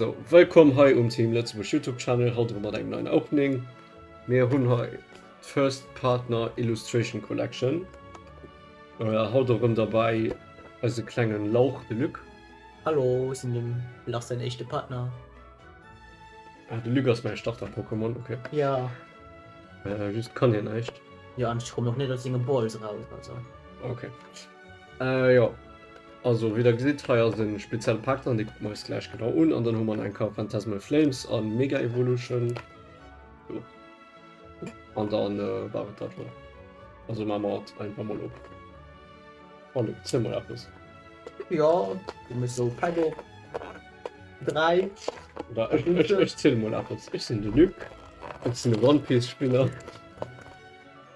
So, wëllkomm hei um Team Lëtzebuerg Youtube Channel, haut erëm mat engem neien Opening. Mir hunn hei d'First Partner Illustration Collection, haut erëm derbäi eise klenge Lauch de Luc. Hallo, ech sinn dem Lars säin éischte Partner. Ah, de Luc ass mäi Starter-Pokémon, ok. Jo. Just kann hien näischt. Jo, an ech kommen och net aus senge Balls eraus, also. Ok. Äh jo, also wéi der gesitt, hei ass e spezielle Pak dran, dee kucke mer eis gläich genau un. An dann hu mer nach eng Karte Phantasmal Flames a Mega Evolution. Jo. An dann war et dat elo. Also maache mer hatt einfach mol op. Allez, ziel mol eppes. Jo, du méchs esou Pak op. 3. Oder ech ziel mol eppes. Ech sinn de Luc, ech sinn e One Piece Spiller.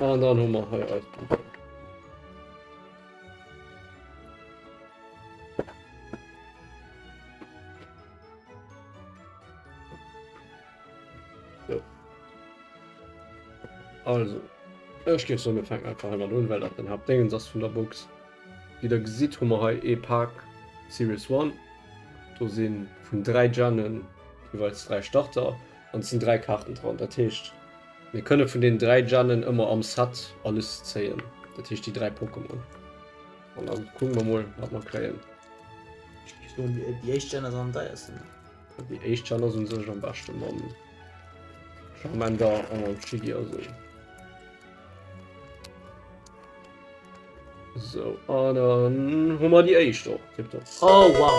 Ah, dann haben wir hier alles. So. Also, ich gehe so mit Fang einfach einmal an, weil das den Hauptding ist von der Box. Wie ihr seht, haben wir hier E-Park Series 1. Da sind von drei Gennen jeweils drei Starter. An et sinn 3 Kaarten dran, dat heescht mir kënne vun den 3 Gennen ëmmer am Set alles zéien, dat heescht déi 3 Pokémon. An da kucke mer mol wat mer kréien. Ech mengen déi déi éischt Gen ass am deiersten. Déi éischt Gen ass un sech am beschte mam Charmander a mam Shiggy a sou. Sou, an dann hu mer déi éischt och, tipptopp. Oh wow!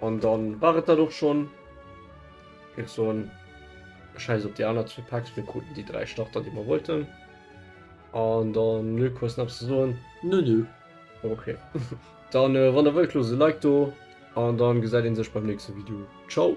An dann war et dat och schon. Ech soen Scheiss op déi aner zwee Packs, mir kruten déi 3 Starter déi mer wollten. An dann Luc hues nach ze soen? Nö nö. Ok dann wann der wëllt loosst e Like do an dann gesäit een sech beim nächste Video. Ciao.